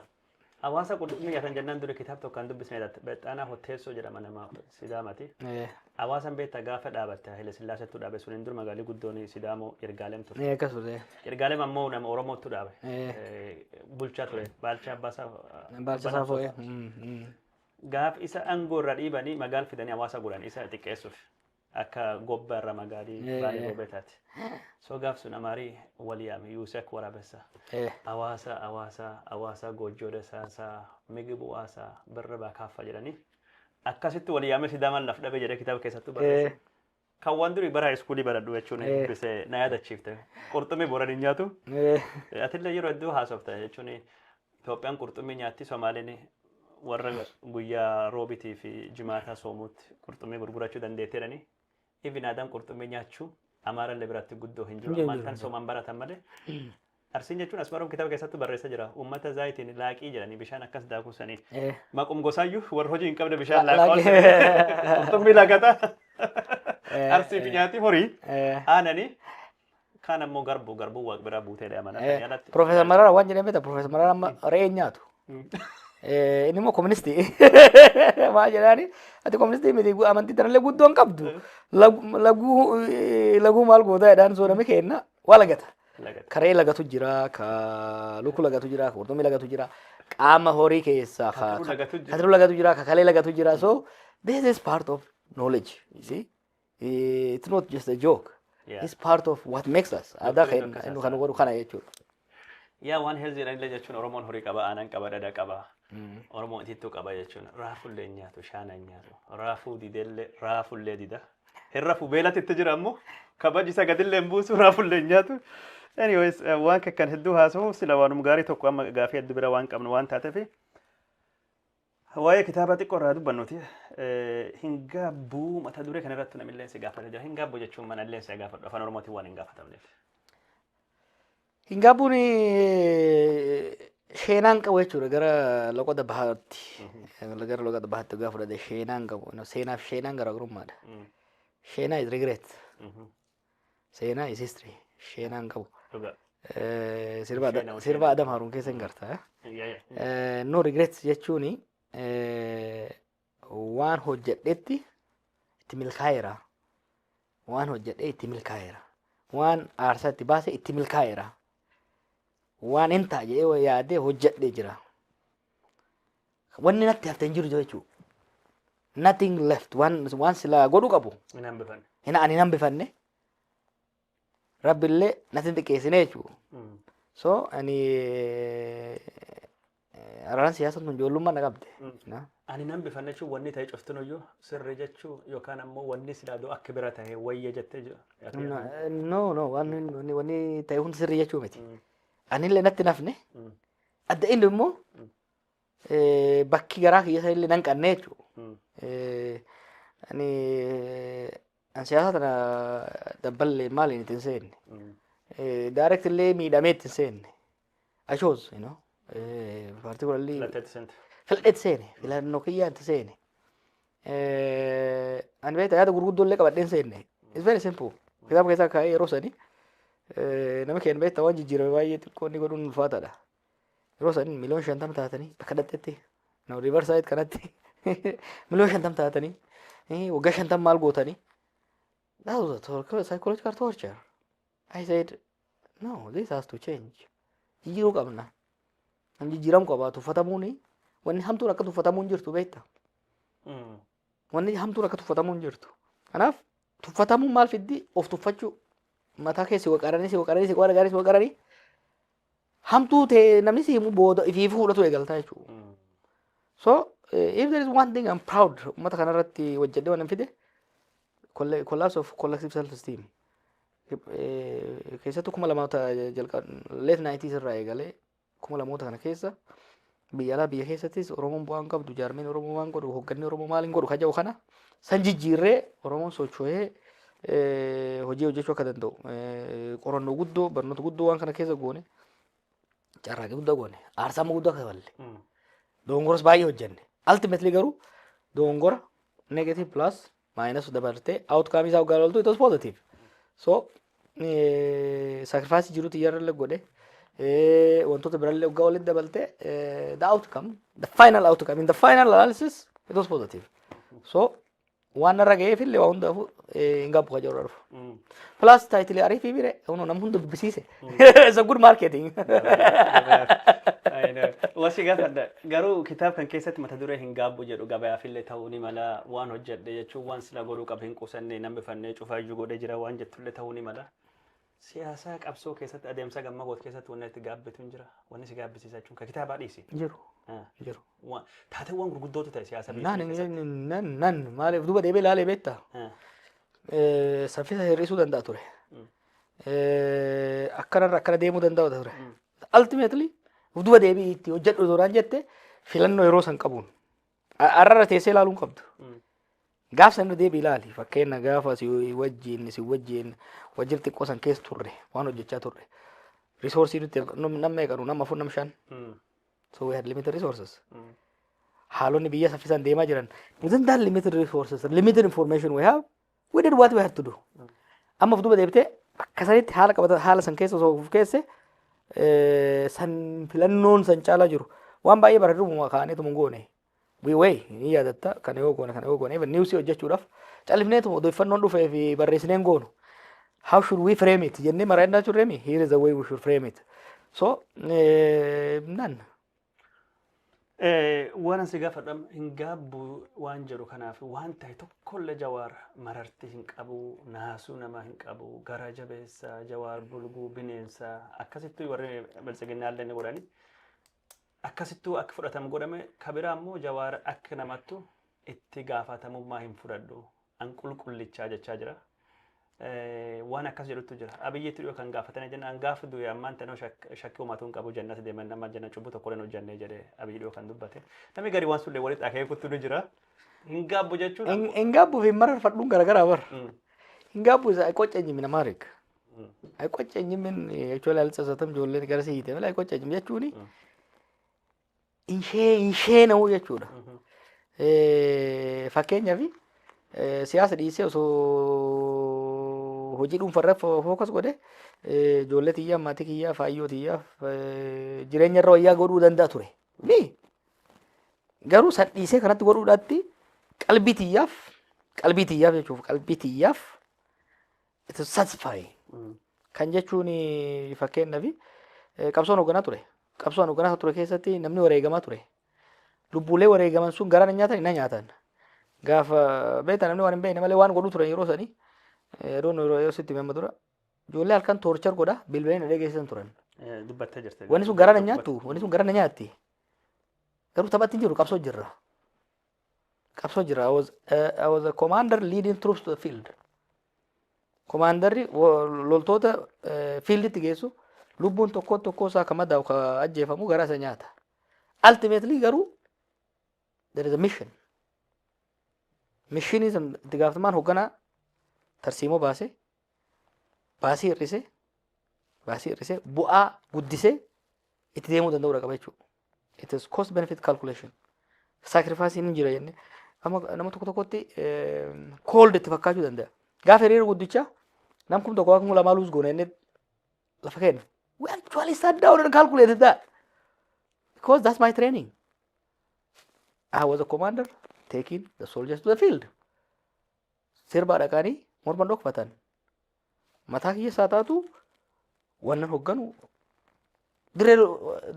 Hawaasa qurxummii nyaatan jennaan duri kitaab tokko kan dubbisne dha. Bexxaanaa Hotteessoo jedhama nama Sidaamati. Ee, Hawaasan beektaa gaafa dhaabatte Haile Sillaaseetu dhaabe suniin dur magaalli guddoon Sidaamoo Yirgaalem ture. ee, akkas ture. Yirgaalem ammoo nama Oromootu dhaabe. Ee. Eh, Bulchaa ture. Baalchaa Abbaasaa. Baalcha Saafoo. ee, mm, mm. Gaaf isa aangoo irra dhiibanii magaal fidanii hawaasa godhan isa xiqqeessuuf. Akka gobba irra magaali Eh. baale gobe taate. So gaaf sun amaari wal yaame yuuse akka waraabessa. Eh. Awaasa awaasa awaasa goojjoo dasaasa migibu waasa birra baa kaaffa jedhanii. Akkasitti wal yaame sidaamaan laf dhabe jedhee kitaaba keessattuu barreesse. Eh. Kan waan durii bara iskuulii baradhu jechuun Eh. dubbise na yaadachiifte. Qurxummii boran hin nyaatu. Eh. Atillee yeroo hedduu haasofta jechuun Itoophiyaan qurxummii nyaatti, Somaaleen warra guyyaa Roobitii fi Jimaataa soomuutti qurxummii gurgurachuu dandeetti jedhanii even aadaan qurxummii nyaachuu Amaarallee biratti guddoo hin jiru. Ammaan tan soomaan baratan malee. Arsiin jechuun asmaroom kitaaba keessatti barreessa jira. Uummata zaayitiin laaqii jedhanii bishaan akkas daakuu sanii. Eh, Maqum gosaayyuu warra hojii hin qabne bishaan La- laaqaa laaqii. qurxummii laaqata. eh, Arsiif eh, nyaati horii eh, aananii Kaan ammoo garbuu garbuu waaq biraa buutee dha mana Eh, jalatti. Profeesar Mararaa waan jedhan beektaa Profeesar Mararaa amma re'ee hin nyaatu. Eh, Inni immoo koministii. Maal jedhaani? Ati koministii miti gu- amantii tanallee guddoo hin qabdu. Lagu- Laguu eh, laguu maal gootaa jedhaan soorame keenna waa lagata. Lagata. Ka re'ee lagatu jira, ka lukkuu lagatu jira, ka qurxummii lagatu jira, qaama horii keessaa ka Katiruu lagatu jira. katiruu lagatu jira, ka kalee lagatu jira. So this is part of knowledge. You see? Eh, It's not just a joke. Yeah. It's part of what makes us. Aadaa Doktoriin keenya akkas nu kan haasa'an. godhu kana jechuudha. Yaa waan heelziidhaan illee jechuun Oromoon horii qaba, aanan qaba, dhadha qaba. Oromoon itittuu qaba jechuun raafullee hin nyaatu, shaana hin nyaatu. Raafuu didellee, raafullee dida. Hin rafu beelatti itti jira ammoo kabaji isa gadillee hin buusu, raafullee hin nyaatu. Anyways, eh, waan kan hedduu haasa'u sila waanuma gaarii tokko amma gaafii adda bira waan qabnu waan taateef Waa'ee kitaaba xiqqoo irraa dubbannuti hin gaabbuu mata duree kana irratti namillee si gaafata jira. Hin gaabbu jechuun manallee si gaafadhu afaan oromootiin waan hin gaafatamneef. Hin gaabbuun sheenaan qabu jechuudha gara loqoda bahaatti. Gara loqoda bahaatti gaafa fudhate sheenaan qabu. Seenaaf sheenaan garaagarummaadha. Sheenaa is regret. Seenaa is history. Sheenaan qabu. Dhugaa. Eh, Sirba Adam- Sheenaa, sirba sheenaa. Adam Haruun keessa hin garta. eh? Yaa, yaa. Eh, no regrets jechuun waan hojjedhetti itti milkaa'eera. Waan hojjedhee itti milkaa'eera. Waan aarsaa itti baase itti milkaa'eera. Waan hin ta'a jedhee yaadee hojjedhee jira. Wanni natti hafte hin jiru jechuu. Nothing left. Waan, waan silaa godhu qabu. Hin hambifanne. Hin, ani hin hambifanne. Rabbillee natti hin xiqqeessine jechuu. Mm. So, ani eh, araaraan siyaasa tun ijoollummaa na qabde. Na? Ani hin hambifanne jechuun wanni ta'e cuftinuyyuu sirri jechuu yookaan ammoo wanni silaa doo akka bira ta'e wayya jettee jiru. Na- No, no, waan wanni- wanni ta'e hundi sirrii jechuu miti. Anillee natti hin hafne. Mm. Adda inni immoo eh, bakki garaa kiyya sana illee nan qannee jechuudha. Mm. Eh, ani an siyaasa tana dabballee maaliin itti hin seenne. Mm. Eh, direct illee miidhamee itti hin seenne. I chose, you know. Eh, particularly Filatteetti seente. filadheetti seene filannoo kiyyaan itti seene. Eh, ani beektaa yaada gurguddoo illee qabadhee hin seenne. It's very simple. Kitaaba keessaa kaa'ee yeroo sanii eh, nama keenya beektaa waan jijjiirame baay'ee xiqqoo inni godhuun ulfaataadha. Yeroo san miliyoon shantama taatanii bakka dhaqxetti no river side kanatti miliyoon shantama taatanii eh, waggaa shantama maal gootanii. That was a tor- psychological torture. I said no this has to change. Jijjiiruu qabna. Nam jijjiiramu qaba tuffatamuuni wanni hamtuun akka tuffatamuun jirtu beekta. Mm. wanni hamtuun akka tuffatamu hin jirtu. Kanaaf tuffatamuun maal fiddi of tuffachuu mataa keessi waqaranii si waqaranii si waqaranii si waqaranii hamtuu ta'e namni si himu booda ifii fuudhatu eegaltaa jechuudha. So eh, if there is one thing I'm proud uummata kanarratti hojjedhe waan fide colla- collapse of collective self esteem keessattuu kuma lamoota jalqaba late 90s irraa eegalee kuma lamoota kana keessa Biyya alaa biyya keessattis Oromoon bu'aa hin qabdu, jaarmeen Oromoo waan godhu, hoogganni Oromoo maal hin godhu kan jedhu kana san jijjiirree Oromoon socho'ee eh, hojii hojjechuu akka danda'u eh, qorannoo guddoo barnoota guddoo waan kana keessa goone carraaqii guddaa goone aarsaa amma guddaa kafalle doongoras baay'ee hojjenne ultimately garuu doongora negative plus Maayinas dabartee outcome isaa hoggaa loltu it was positive. So sacrifice jirutu iyyarrallee godhe wantoota birallee hoggaa walitti dabaltee the outcome the final outcome in the final analysis it was positive. So waan narra ga'eef illee waa hundaafuu hin gaabbu kajaarra dhufu. Plus taayitilee ariifii bire hunu nam hunda dubbisiise. It's a good marketing. I know. Wasi gaafadha. Garuu kitaaba kan keessatti mata duree hin gaabbu jedhu gabayaafillee ta'uu ni mala waan hojjedhe jechuun waan sila godhuu qabu hin qusanne namni fannee cufaa iyyuu godhee jira waan jettullee ta'uu ni mala. Siyaasaa qabsoo keessatti adeemsa gamma goot keessatti wanni itti gaabbitu hin jira. Wanni si gaabbisiisa jechuun kan kitaabaa dhiisi. Jiru. Ah. Jiru. Waan- Taateewwan gurguddootu ta'e siyaasa biyya Nan, keessatti. nan, nan, maaliif duuba deebee ilaalee beektaa? Ah. Eh, Saffisa hir'isuu danda'a ture. Mm. eh, akkanarra akkana deemuu danda'u ture. Ultimately of duba deebi'i itti hojjedhu osoo naan jette filannoo yeroo san qabuun A- har'arra teessee ilaaluu hin qabdu. Gaaf san irra deebi'i ilaali fakkeenya gaafa si wajjin si wajjin wajjin xiqqoo san keessa turre waan hojjechaa turre. Risoorsii nuti namni meeqanu nama afur nama shan. So we had limited resources. haalonni biyya saffisaan deemaa jiran within that limited resources limited information we have We did what we had to do. Amma of duuba deebitee akka sanitti haala qabata haala san keessa osoo of keesse eh, san filannoon san caalaa jiru waan baay'ee bara durbuma kaa'aniituma hin goone. We way ni yaadatta kana yoo goone kana yoo goone even niwsii hojjechuudhaaf callifneetuma odeeffannoon dhufee fi barreessineen goonu. How should we frame it jennee maraa'inaa turreemi here is the way we should frame it. So eh, none. Eh, waan asi gaafadham hin gaabbu waan jedhu kanaaf waan ta'e tokkolle jawaar mararti hin qabu naasuu namaa hin qabu gara jabeessa jawaar bulguu bineensa akkasittuu warri biltsiginnaallee ni godhani akkasittuu akka fudhatamu godhame kabiraa immoo jawaar akka namattu itti gaafatamummaa hin fudhadhu an qulqullichaa jechaa jira. Waan akkas jedhutu jira. Abiyyiitti dhiyoo kan gaafatanii jenna an gaafa du'e ammaan tanoo shakkii uumatuu hin qabu jannata deeman nama janna cubbuu tokko hin hojjannee jedhee abiyyi dhiyoo kan dubbate. Namni gadi waan sullee walitti akeekutu ni jira. Hin gaabbu jechuun. Hin gaabbu fi mararfadhuun garaagaraa bar. Hin gaabbu isa qoca eenyumin amaarik. Qoca eenyumin jechuun ilaalcha isatam ijoolleen gara siite mala qoca eenyum jechuuni. hin shee- hin sheena'u jechuudha. Eh, Fakkeenyaaf eh, siyaasa dhiisee osoo hojii dhuunfarra fo- fookas godhe eh, ijoollee tiyyaa, maatii kiyyaa, faayyoo tiyyaa eh, jireenya irra wayyaa godhuu danda'a ture. Ni garuu san dhiisee kanatti godhuudhaatti qalbii tiyyaaf qalbii tiyyaaf jechuuf qalbii tiyyaaf It is satisfying. Kan jechuun fakkeenyaaf eh, qabsoon hoogganaa ture. Qabsoon hoogganaa ture keessatti namni wareegamaa ture. Lubbuulee wareegaman sun garaa na nyaatan na nyaatan. Gaafa beektaa namni waan hin beekne malee waan godhu turan yeroo sanii eh, adoon yeroo yeroo sitti himama tura. Ijoollee halkan toorchar godha bilbileen na dhageessisan turan. Eh, Dubbattee jirte. Wanni sun garaa na nyaattu wanni sun garaa na nyaatti. Garuu taphatti hin jiru qabsoo jirra. qabsoo jira. I was, uh, I was a commander leading troops to the field. Komaandarri wo- loltoota eh, fiilditti geessu lubbuun tokko tokkoo isaa kan madaa'u kan ajjeefamu garaa isa nyaata. Ultimately garuu there is a mission. Mishinii san itti gaafatamaan hoogganaa tarsiimoo baasee baasii hir'isee baasii hir'isee bu'aa guddisee itti deemuu danda'uudha qaba jechuudha. It is cost benefit calculation. Sacrifice ni jira jenne. Amma nama tokko tokkotti cold itti fakkaachuu danda'a. Gaafa hiriira guddicha nam kum tokko kum lamaa luus goone jennee lafa kenna. We actually sat down and calculated that. Because that's my training. I was a commander taking the soldiers to the field. Sirbaa dhaqanii morma dhokfatan. Mataa kiyya isaa taatu wannan hogganu dirree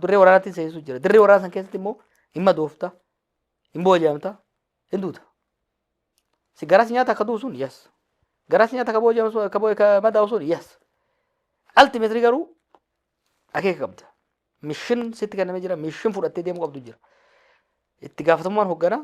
dirree waraanaatti seensu jira. Dirree waraana san keessatti immoo dhimma doofta, dhimma booji'amta, hin duuta. Si garas nyaata akka du'u sun yes. Garas nyaata akka booji'amu sun akka boo- akka madaa'u sun yes. Ultimately garuu akeeka qabda. Mishin sitti kennamee jira, mishin fudhattee deemuu qabdu jira. Itti gaafatamummaan hoggana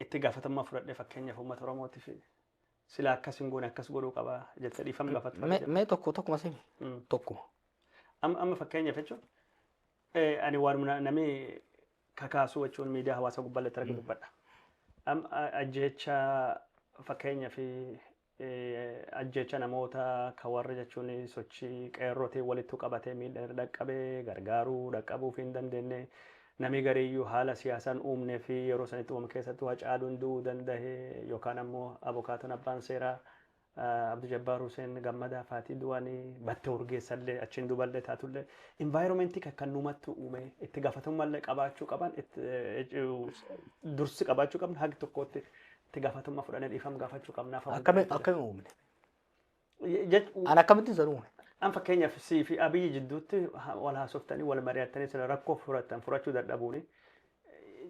itti gaafatamummaa fudhadhee fakkeenyaaf uummata Oromootiif silaa akkas hin goone akkas godhuu qaba jettee dhiifama gaafatta fa'aa mee jedhu. mee tokko tokkuma simi Mm. tokkuma Amma amma fakkeenyaaf jechuun eh, ani waanuma na- namni kakaasuu jechuun miidiyaa hawaasaa gubbaallee irratti argu dubbadha. Amma ajjeecha fakkeenyaaf Ajjeecha namoota ka warra jechuun sochii qeerrootiin walittu qabatee miidhan irra dhaqqabe gargaaruu dhaqqabuufii hin dandeenne. Namii gariiyyuu haala siyaasaan uumnee fi yeroo sanitti uumame keessattuu Hacaaluun du'uu dandahe yookaan ammoo abokaatoon abbaan seeraa Abdu Jabbaar Huseen Gammadaa faatii du'anii batte Urgeessallee achiin duballee taatullee environment kakkannumattu uumee itti gaafatamummallee qabaachuu qaban dursi qabaachuu qabna hagi tokkootti itti gaafatamummaa fudhannee dhiifama gaafachuu qabna. afaan Akkami guddaa akkami uumne? jechuudha. Jech- An akkamitti isa uume? An fakkeenyaaf sii fi abiyyi jidduutti ha- wal haasoftanii wal mari'attanii sila rakkoo furatan furachuu dadhabuuni.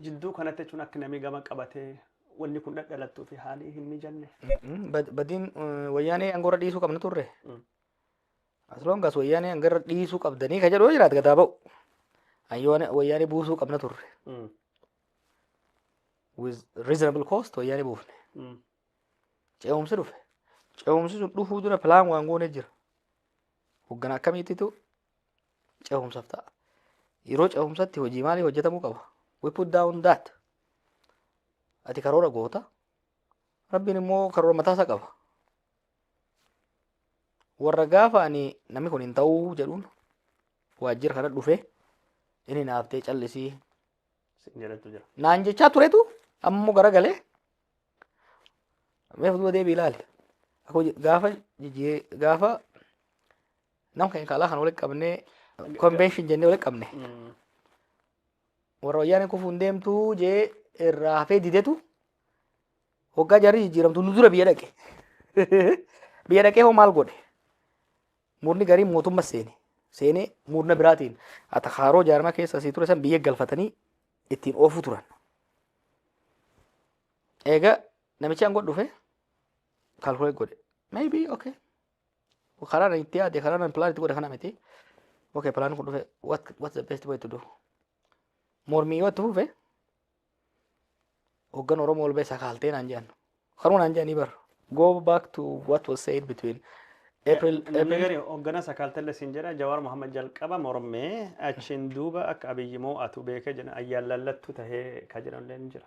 Jidduu kanatti jechuun akka namni gama qabatee wanni kun dhadhalattuu fi haalii hin mijanne. Mm, bad- Badiin eh, wayyaanee angoorra dhiisuu qabna turre. Mm. Asloongaas wayyaanee angarra dhiisuu qabdanii ka jedhu yoo jiraate gadaa ba'u. Ayyoone wayyaanee buusuu qabna turre. Mm. with reasonable cost wayyaanee buufne ce'umsi dhufe ce'umsi sun dhufuu dura pilaan waan goonee jira hoggana akkamiittitu ce'umsaaf ta'a yeroo ce'umsatti hojii maalii hojjetamuu qaba we put down that ati karoora goota rabbiin immoo karoora mataasa qaba warra gaafa ani namni kun hin ta'uu jedhuun waajjira kana dhufe inni naaftee callisii sin jedhetu jira. naan jechaa turetu amma immoo garagalee meef duba deebii ilaali Akka hojii- gaafa jijjii- gaafa nam keenya kaalaa kan walitti qabnee konvenshin jennee walitti qabne Mm. warra wayyaanee kufuun deemtuu jee irraa hafee didetu hoggaa jarri jijjiiramtu nu dura biyya dhaqe biyya dhaqee hoo maal godhe Murni gariin mootummas seene. Seenee murna biraatiin atakaaroo jaarmaa keessa asii ture san biyya galfatanii ittiin oofuu turan. Eega namichi aangoo dhufe kaalkulee godhe. Maybe okay. Karaa nan itti yaade karaa nan pilaan itti godhe kana miti. Okay pilaan kun dhufe what what's the best way to do? Mormii yoo itti fufe Hoggan Oromoo ol ba'e sakaaltee naan jedhan. Kanuma naan jedhanii bar. Go back to what was said between April, Namni April gari hoggana sakaaltelle siin jedha Jawaar Mohaammed jalqaba mormee achiin duuba akka Abiyyi moo'atu beekee jedhan ayyaan lallattuu tahee ka jedhanillee ni jira.